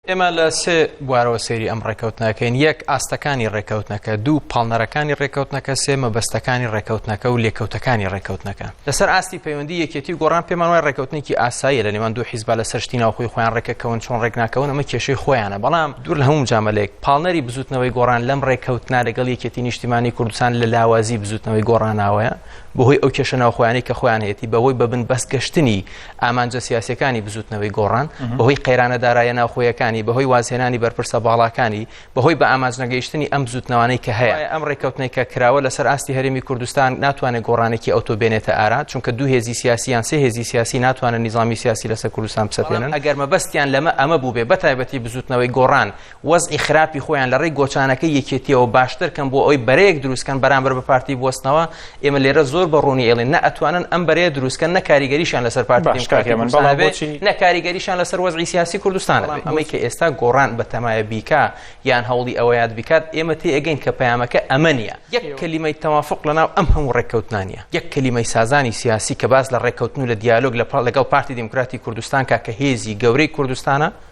ئێمە لە سێ بوارەوە سێری ئەم ڕێکەوتنەکەین یەک ئاستەکانی ڕێکەوتنەکە دوو پاڵنەرەکانی ڕێکەوتنەکە سێ مەبەستەکانی ڕێکەوتنەکە و لێکەوتەکانی ڕێکەوتنەکە لەسەر ئاستی پەیوەندی یەکێتی گۆڕان پێمان وای ڕێکەوتنێکی ئاساییە لە نێوان دوو حیزبە لە سەرشتی ناوخۆی خۆیان ڕێکەکەون چۆن ڕێکناکەون ئەمە کێشەی خۆیانە بەڵام دوور لە هەموو مجامەلەیەک، پاڵنەری بزووتنەوەی گۆڕان لەم رێککەوتنە لەگەڵ یەکێتی نیشتیمانی کوردستان لە لاوازی بزووتنەوەی گۆڕاناوەیە بەهۆی ئەو کێشە ناوخۆیانەی کە خۆیان هەیەتی بەهۆی بە بن بەست گەشتنی ئامانجە سیاسیەکانی بزووتنەوەی گۆڕان بەهۆی قەیرانە دارایە ناوخۆیەکانی بەهۆی وازهێنانی بەرپرسە باڵاکانی بەهۆی بە ئامانج نەگەیشتنی ئەم بزووتنەوانەی کە هەیە. ئەم رێککەوتنەی کە کراوە لەسەر ئاستی هەرێمی کوردستان ناتوانێت گۆڕانێکی ئەوتۆ بێنێتە ئارا چونکە دوو هێزی سیاسی یان سێ هێزی سیاسی ناتوانن نیزامی سیاسی لەسەر کوردستان بسەپێنن ئەگەر مەبەستیان لەمە ئەمە بووبێ بەتایبەتی بزوتنەوەی گۆڕان وەزعی خراپی خۆیان لە ڕێی گۆچانەکە یەکێتیەوە باشتر کەم بۆ ئەوی بەرەیەک دروستکەن بەرامبەر بە پارتی بستنەوە ئێمە لێرە زۆر بە ڕوونی ئێڵین نە ئەتوانن ئەم بەرەیە دروستکەن نە کاریگەریشان لەسەر پارتی نە کاریگەریشان لەسەر وەزعی سیاسی کوردستان ئەمەی کە ئێستا گۆڕان بە تەمایە بیکا یان هەوڵی ئەوە یاد بکات ئێمە تێ ئەگەین کە پەیامەکە ئەمە نیە یەک کەلیمەی تەوافق لەناو ئەم هەموو ڕێککەوتنانە یەک کەلیمەی سازانی سیاسی کە باس لە ڕێککەوتن و لە دیالۆگ لە پاڵ لەگەڵ پارتی دیموکراتی کوردستان کا کە هێزی گەورەی کوردستانە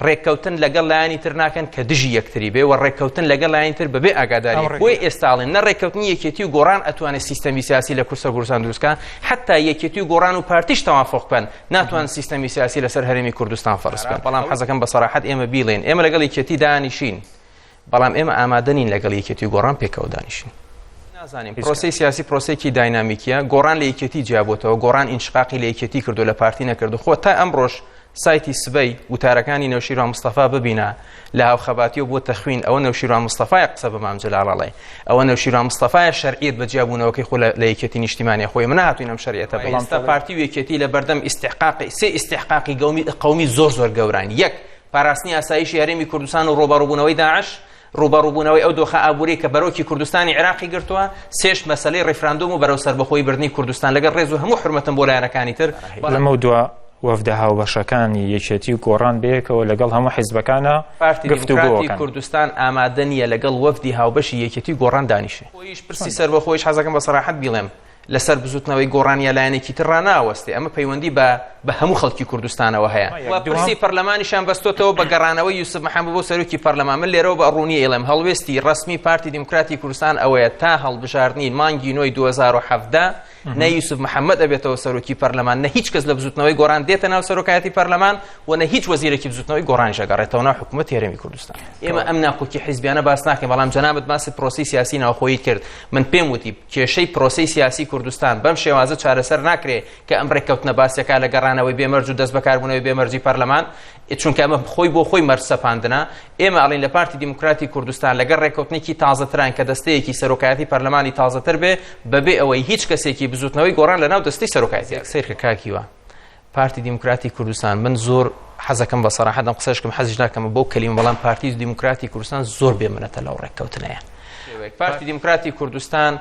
ڕێککەوتن لەگەڵ لایانی تر ناکەن کە دژی یەکتری بێ و ڕێککەوتن لەگەڵ لایەن تر بەبێ ئاگاداری بۆی ئێستاڵێن نە ڕێککەوتنی یەکێتی و گۆڕان ئەتوانێت سیستەمی سیاسی لە کورسە گورسان دروستکە حتا یەکێتی و گۆڕان و پارتیش تەوافقکەن ناتوان سیستەمی سیاسی لەسەر هەرمی کوردستان فەرزکە بەڵام حەزەکەم بە سەراحەت ئێمە بیڵێن ئێمە لەگەڵ یەکێتی دانیشین بەڵام ئێمە ئامادە نین لەگەڵ یەکێتی و گۆڕان پێکەوە دانیشین. نازانین پرۆسەی سیاسی پرۆسەیەکی داینامیکیە گۆڕان لە یەکێتی جیابووتەوە گۆڕان ئینشقاقی لە یەکێتی کردو لە پارتی نەکردو خۆ تا ئەمڕۆژ سایتی سبەی وتارەکانی نەوشیروان مستەفا ببینە لە هاوخەباتی و بۆ تەخوین ئەوە نەوشیروان مستەفای قسە بە مام جەلال ئەڵێ ئەوە نەوشیروان مستەفای شەرعیت بە جیابوونەوەکەی خۆ لە یەکێتی نیشتیمانی خۆی منە هاتوین ئەم شەرعیتە بەڵام پارتی و یەکێتی لە بەردەم ئیستحقاقی سێ ئیستحقاقی گەومی قەومی زۆر زۆر گەوران یەک پاراستنی ئاسایشی هەرێمی کوردستان و ڕووبەڕووبوونەوەی داعش، ڕووبەڕووبوونەوەی ئەو دۆخە ئابووریی کە بەرۆکی کوردستانی عێراقی گرتووە، سێش مەسەلەی ڕیفراندۆم و بەرەو سەربەخۆیی بردنی کوردستان، لەگەڵ ڕێز و هەموو حورمەتم بۆ لایەنەکانی تر، لەمەودوا وەفدە هاوبەشەکانی یەکێتی و گۆڕان بەیەکەوە لەگەڵ هەموو حیزبەکانە پارتی دیموکراتی کوردستان ئامادە نییە لەگەڵ وەفدی هاوبەشی یەکێتی و گۆڕان دانیشێ. خۆیش پرسی سەربەخۆیش حەزەکەم بە سەراحەت بیڵێم، لەسەر بزوتنەوەی گۆڕان یا لایەنێکی تر ڕناوەستێ ئەمە پەیوەندی بە بە هەموو خەڵکی کوردستانەوە هەیە پرسی پەرلەمانیشان بەستۆتەوە بە گەڕانەوە یوسف محەممە بۆ سەرۆکی پەرلەمان من لێرەوە بە ڕوونی ئێڵم هەڵوێستی ڕسمی پارتی دیموکراتی کوردستان ئەوەیە تا هەڵبژاردنین مانگی نۆی 2017 نە یوسف محەممەد ئەبێتەوە سەرۆکی پەرلەمان نە هیچ کەس لە بزوتنەوەی گۆران دێتە ناو سەرۆکایەتی پەرلەمان و نە هیچ وەزیرێکی بزوتنەوەی گۆران ژەگەڕێتەوە ناو حکوومەت هێرمی کوردستان ئێمە ئەم ناکۆکی حیزبیانە باس ناکەین بەڵام جەنابەت باسی پرۆسی سیاسی ناوخۆی کرد من پێم وتی کێشەی پرۆسەی سیاسی کوردستان بەم شێوازە چارەسەر ناکرێ کە ئەم رێککەوتنە باس دەکا لە گەڕانەوەی بێ مەرج و دەست بەکاربوونەوەی بێ مەرجی پەرلەمان، چونکە ئەمە خۆی بۆ خۆی مەرج سەپاندنە. ئێمە ئەڵێین لە پارتی دیموکراتی کوردستان لەگەڵ رێککەوتنێکی تازەتراین کە دەستەیەکی سەرۆکایەتی پەرلەمانی تازەتر بێ بەبێ ئەوەی هیچ کەسێکی بزووتنەوەی گۆڕان لەناو دەستەی سەرۆکایەتیدا بێ. سەیرکە کاک هیوا، پارتی دیموکراتی کوردستان من زۆر حەزەکەم بە سەراحەت ئەم قسەشکم حەزیش ناکەم بۆ کەلیم بەڵام پارتی و دیموکراتی کوردستان زۆر بێ منەتە لەو ڕێککەوتنەیە پارتی دیموکراتی کوردستان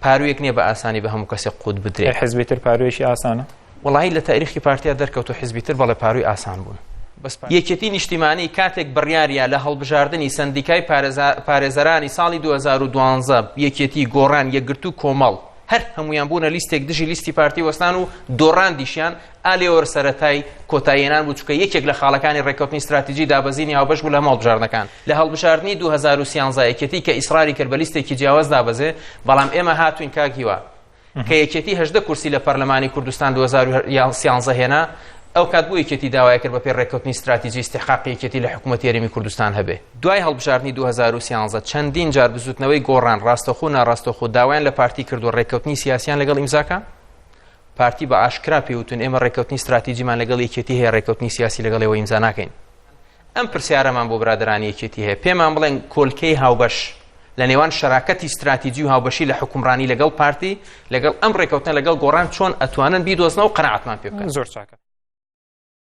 پارویەک نییە بە ئاسانی بە هەموو کەسێک قوت بدرێت حزبی تر پاروێشی ئاسانە وڵی لە تاریخی پارتیا دەرکەوت و حزبی تر بەڵێ پاروی ئاسان بوون یەکێتی نیشتیمانی کاتێک بڕیارە لە هەڵبژاردننی سندیکای پارێزەرانی ساڵی 2012 یەکێتی گۆڕان یەکگرتو کۆمەڵ هەر هەموویان بوونە لیستێک دژی لیستی پارتی وەستان و دۆڕاندیشیان ئالێۆر سەرەتای کۆتاییێنان بوو چکە یەکێک لە خاڵەکانی ڕێکوتنی استراتیجی دابەزینی هاوبەش بوو لە ماڵبژاردنەکان لە هەڵبژاردننی 2013 یەکێتی کە ئیسراری کرد بە لیستێکی جیاواز دابەزێ بەڵام ئێمە هاتوین کاک هیوا کە یەکێتی هەدە کورسی لە پەرلەمانی کوردستان 2013 هێنا ئەو کات بۆ یەکێتی داوای کرد بە پێ ڕێکوتنی استراتیجی استحقاقی یەکێتی لە حکوومەت یاریمی کوردستان هەبێ دوای هەڵبژاردنی دوو هەزار و سیانزە چەندین جار بزوتنەوەی گۆڕان ڕاستەخۆ و ناڕاستەخۆ داوایان لە پارتی کردووە ڕێککەوتنی سیاسیان لەگەڵ ئیمزاکە پارتی بە ئاشکرا پێوتون ئێمە ڕێککەوتنی استراتیجیمان لەگەڵ یەکێتی هەیە ڕێککەوتنی سیاسی لەگەڵەوە ئیمزا ناکەین ئەم پرسیارەمان بۆ برادرانی یەکێتی هەیە پێمان بڵێن کۆلکەی هاوبەش لە نێوان شەراکەتی استراتیجی و هاوبەشی لە حکومڕانی لەگەڵ پارتی لەگەڵ ئەم ڕێککەوتن لەگەڵ گۆڕان چۆن ئەتوانن بیدۆزنەوە قەنەعەتمان پێ بکەن زۆر چاکە